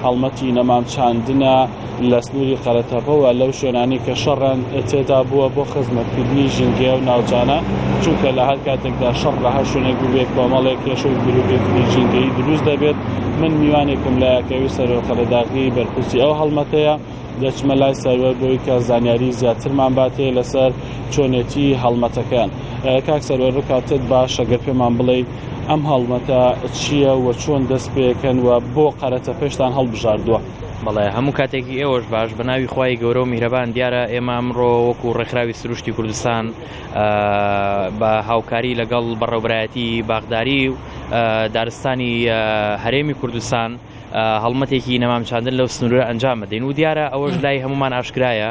هەڵمەتی نەمام چاندنە لە سنووری قەرەتەپەوە لەو شوێنانی کە شەڕیان تێدا بووە بۆ خزمەتکردنی ژینگەیە و ناوچانە چونکە لە هەر کاتێکدا شەڕ لە هەر شوێنێک بووێت کۆمەڵێک کێشە و گروپێکی ژینگەی دروست دەبێت من میوانێکم لە یاکەوی سەرۆ قەرەداغی بەرپرسی ئەو هەڵمەتەیە دەچمە لای سەروەر بۆی کە زانیاری زیاترمان باتێ لەسەر چۆنێتی هەڵمەتەکەیان کاک سەروەر ڕکاتت باشە گەر پێمان بڵێیت ئەم هەڵمەتە چییە و چۆن دەست پێکەن و بۆ قەرەتەپەشتان هەڵبژاردووە؟ بەڵێ هەموو کاتێکی ئێوەش باش بە ناوی خوای گەورە و میهرەبان دیارە ئێمە ئەمڕۆ وەکو ڕێکخراوی سروشتی کوردستان بە هاوکاری لەگەڵ بەڕێوبەرایەتی باخداری و دارستانی هەرێمی کوردستان هەڵمەتێکی نەمام چاندن لەو سنورە ئەنجام بدەین و دیارە ئەوەش لای هەمومان ئاشکرایە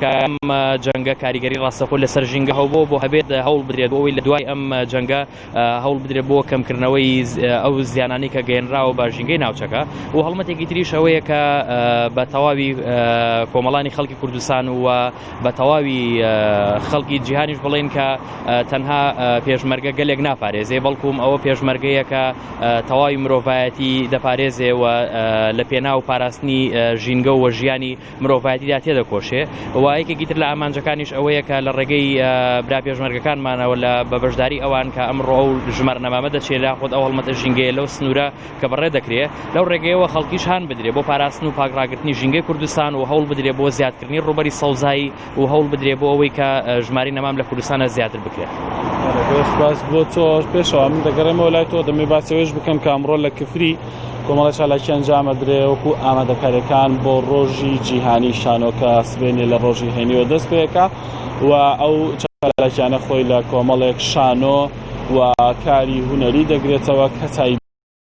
کە ئەم جەنگە کاریگەری ڕاستەخۆ لەسەر ژینگە هەوبەوە بۆ هەبێت هەوڵ بدرێت بۆەوەی لە دوای ئەم جەنگە هەوڵ بدرێت بۆ کەمکردنەوەی ئەو زیانانی کە گەێنراوە بە ژینگەی ناوچەکە و هەڵمەتێکی تریش ئەوەیە کە بە تەواوی کۆمەڵانی خەڵکی کوردستان و بە تەواوی خەڵکی جیهانیش بڵێن کە تەنها پێشمەرگە گەلێک ناپارێزێ بەڵکوم ئەوە پێشمەرگەیەکە تەواوی مرۆڤایەتی دەپارێزێ و لە پێناو پاراستنی ژینگە و ژیانی مرۆڤایەتیدا تێدەکۆشێ و یەکێکی تر لە ئامانجەکانیش ئەوەیە کە لە ڕێگەی برا پێشمەرگەکانمانەوە لە بە بەشداری ئەوان کە ئەمڕۆ ئەو ژمارە نەمامە دەچێت لە خۆت ئەو هەڵمەتە ژینگەیە لەو سنوورە کە بەڕێ دەکرێت لەو ڕێگەیەوە خەڵکیش هان بدرێت بۆ پاراستن و پاکڕاگرتنی ژینگەی کوردستان و هەوڵ بدرێت بۆ زیادکردنی ڕووبەری سەوزایی و هەوڵ بدرێت بۆ ئەوەی کە ژماری نەمام لە کوردستانە زیاتر بکرێت باس بۆ تۆ پێشەوە من دەگەڕێمەوە لای تۆ دەمێ باسەوەش بکەم کامڕۆ لە کفری کۆمەڵە چالاکی ئەنجامە درێ وەکو ئامادەکاریەکان بۆ ڕۆژی جیهانی شانۆکە سبێنێ لە ڕۆژی هێنیوە دەست پێەکە و ئەو چالاکیانە خۆی لە کۆمەڵێک شانۆ و کاری هوەری دەگرێتەوە کەسایی